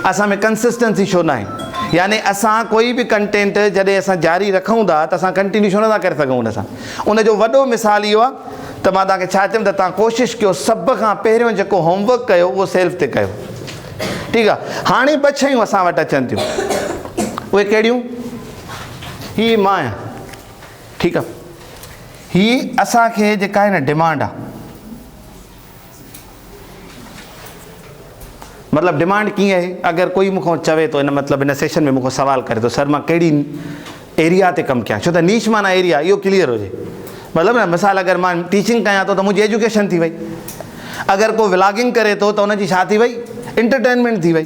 اسان ۾ ڪنسسٽنسي ڇو ناهي يعني اسان ڪوئي به ڪنٽينٽ جڏهن اسان جاري رکون ٿا ته اسان ڪنٽينيو ڇو نٿا ڪري سگهون ان سان ان جو وڏو مثال اهو آهي ته مان توهان کي ڇا چيم ته توهان ڪوشش ڪيو سڀ کان پهريون جيڪو هوم ورڪ ڪيو اهو سيلف تي ڪيو ٺيڪ آهي هاڻي ٻه شيون اسان وٽ اچن ٿيون اهي ڪهڙيون هي مان آهيان ٺيڪ آهي هي اسان کي جيڪا آهي نه ڊيمانڊ آهي مطلب ڊمانڊ ڪيئن آهي اگر ڪوئي مون کان چوي ٿو ان مطلب ان سيشن ۾ مون کان سوال ڪري ٿو سر مان ڪهڙي ايريا تي ڪم ڪيان ڇو ته نيش معنيٰ ايريا اهو ڪليئر هجي مطلب نه مثال اگر مان ٽيچنگ ڪيان ٿو ته منهنجي ايجوڪيشن ٿي وئي اگر ڪو ولاگنگ ڪري ٿو ته ان جي ڇا ٿي وئي انٽرٽينمينٽ ٿي وئي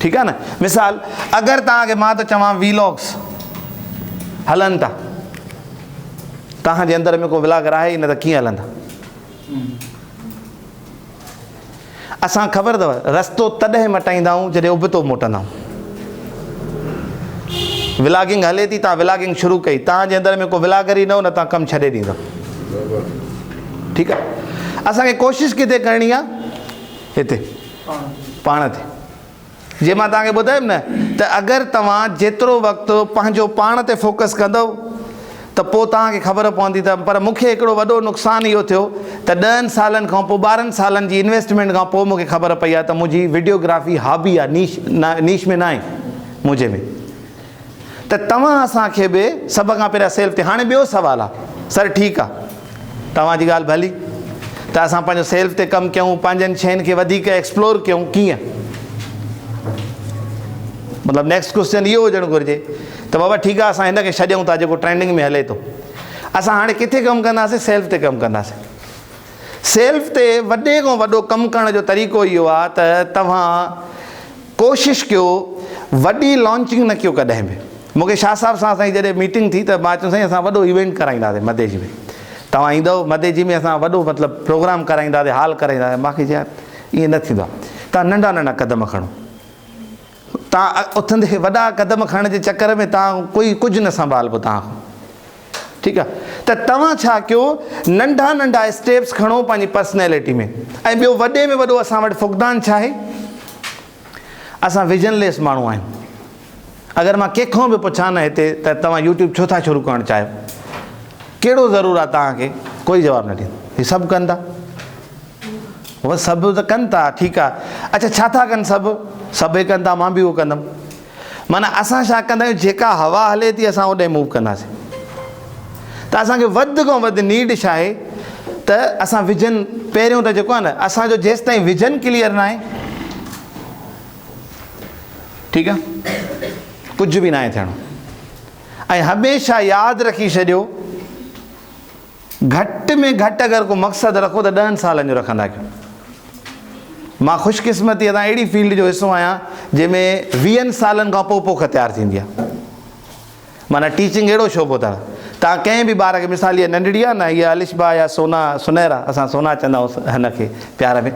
ٺيڪ آ نه مثال اگر توهان کي مان ٿو چوان ويلاگس هلن ٿا توهان جي اندر ۾ ڪو ولاگر آهي نه ته ڪيئن هلندا اسان خبر اٿو رستو تڏهن مٽائيندا آهيون جڏهن ابتو موٽندا آهيون ولاگنگ هلي ٿي توهان ولاگنگ شروع ڪئي توهان جي اندر ۾ کو ولاگر ئي نه هو نه توهان ڪم ڇڏي ڏيندا ٺيڪ آ اسان کي ڪوشش ڪٿي ڪرڻي آ هتي پاڻ تي. جيئن مان توهان کي ٻڌايم نه ته اگر توهان جيترو وقت پنهنجو پاڻ تي فوڪس ڪندؤ ته پوء توهان کي خبر پوندي ته پر مون کي هڪڙو وڏو نقصان اهو ٿيو ته ڏهن سالن کان پوء ٻارهن سالن جي انويسٽمينٽ کان پوء مون کي خبر پئي آهي ته منهنجي وڊيو گرافي هابي آهي نيش نيش ۾ ناهي منهنجي ۾ ته توهان اسان کي به سڀ کان پهريان سيل تي هاڻي ٻيو سوال آ سر ٺيڪ آ توهان جي ڳالهه ڀلي ته اسان پنهنجو سيلف تي ڪم ڪيون پنهنجن شين کي وڌيڪ ايڪسپلور ڪيون ڪيئن مطلب نيڪسٽ ڪوشچن اهو هجڻ گهرجي ته بابا ٺيڪ آ اسان هن کي ڇڏيون ٿا جيڪو ٽرينڊنگ ۾ هلي ٿو اسان هاڻي ڪٿي ڪم ڪنداسين سيلف تي ڪم ڪنداسين سيلف تي وڏي کان وڏو ڪم ڪرڻ جو طريقو اهو آ ته توهان ڪوشش ڪيو وڏي لانچنگ نه ڪيو ڪڏهن به مون کي شاهه صاحب سان اسانجي جڏهن ميٽنگ ٿي ته مان چيم سائين اسان وڏو ايونٽ ڪرائينداسين مديجي ۾ توهان ايندؤ مديجي ۾ اسان وڏو مطلب پروگرام ڪرائينداسين هال ڪرائينداسين مون کي چيو يار ائين نه ٿيندو آ توهان ننڍا ننڍا قدم کڻو. تان اٿندي وڏا قدم کڻڻ جي چڪر ۾ تان ڪوئي ڪجهه نه سنڀالبو تان کان ٺيڪ آ ته توهان ڇا ڪيو ننڍا ننڍا اسٽيپس کڻو پنهنجي پرسنيلٽي ۾ ۽ ٻيو وڏي ۾ وڏو اسان وٽ فقدان ڇا آهي اسان ويزن ليس ماڻهو آهيون اگر مان ڪنهن کان به پڇان نه هتي ته توهان يوٽيوب ڇو ٿا شروع ڪرڻ چاهيو ڪهڙو ضرور آ توهان کي ڪوئي جواب نه ڏيندو هي سڀ ڪندا سڀ ته ڪن ٿا ٺيڪ آ اڇا ڇا ٿا ڪن سڀ سڀ هي ڪن ٿا مان به اهو ڪندم معنيٰ اسان ڇا ڪندا آهيون جيڪا هوا هلي ٿي اسان اوڏي موو ڪنداسين ته اسانکي وڌ کان وڌ نيڊ ڇا آهي ته اسان وجن پهريون ته جيڪو آهي نه اسانجو جيستائين وجن ڪليئر ناهي ٺيڪ آ ڪجهه به ناهي ٿيڻو ۽ هميشه ياد رکي ڇڏيو گهٽ ۾ گهٽ اگر ڪو مقصد رکو ته ڏهن سالن جو رکندا ڪيو. مان خوش قسمتيء سان اهڙي فيلڊ جو حصو آهيان جنهن ۾ ويهن سالن کان پوء پوک تيار ٿيندي آهي. معنيٰ ٽيچنگ اهڙو شعبو اٿڻ تان ڪنهن به ٻار کي مثال هيء ننڍڙي آهي نه هيء الشبا يا سونا سنيرا اسان سونا چوندا هئس هن کي پيار ۾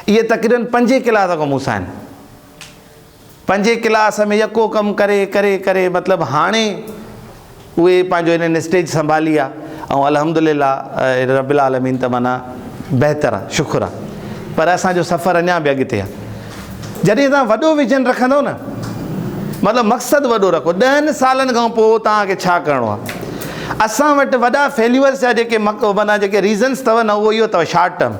اهي تقريبن پنجين ڪلاس کان مون سان آهن. پنهنجي ڪلاس ۾ يڪو ڪم ڪري ڪري ڪري مطلب هاڻي اهي پنهنجو هنن اسٽيج سنڀالي آ ۽ الحمد لله رب العالمين ته معنيٰ بهتر آ شڪر آ پر اسان جو سفر اڃان به اڳتي آ جڏهن توهان وڏو ويزن رکندو نه مطلب مقصد وڏو رکو ڏهن سالن کان پوء توهان کي ڇا ڪرڻو آ اسان وٽ وڏا فيليورس جا جيڪي معنيٰ جيڪي ريزنس اٿو نه اهو اهو اٿو شارٽ ٽرم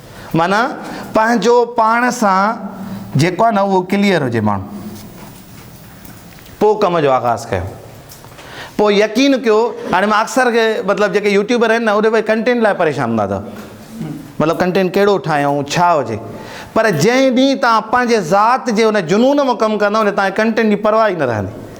معنيٰ پنهنجو پاڻ سان جيڪو آهي نه اهو ڪليئر هجي ماڻهو پوء ڪم جو آغاز ڪيو پوء يقين ڪيو هاڻي مان اڪثر کي مطلب جيڪي يوٽيوبر آهن نه اهي ڪنٽينٽ لاء پريشان هوندا اٿا مطلب ڪنٽينٽ ڪهڙو ٺاهيون ڇا هجي پر جنهن ڏينهن تان پنهنجي ذات جي ان جنون مان ڪم ڪندا ان تان ڪنٽينٽ جي پرواهه ئي نه رهندي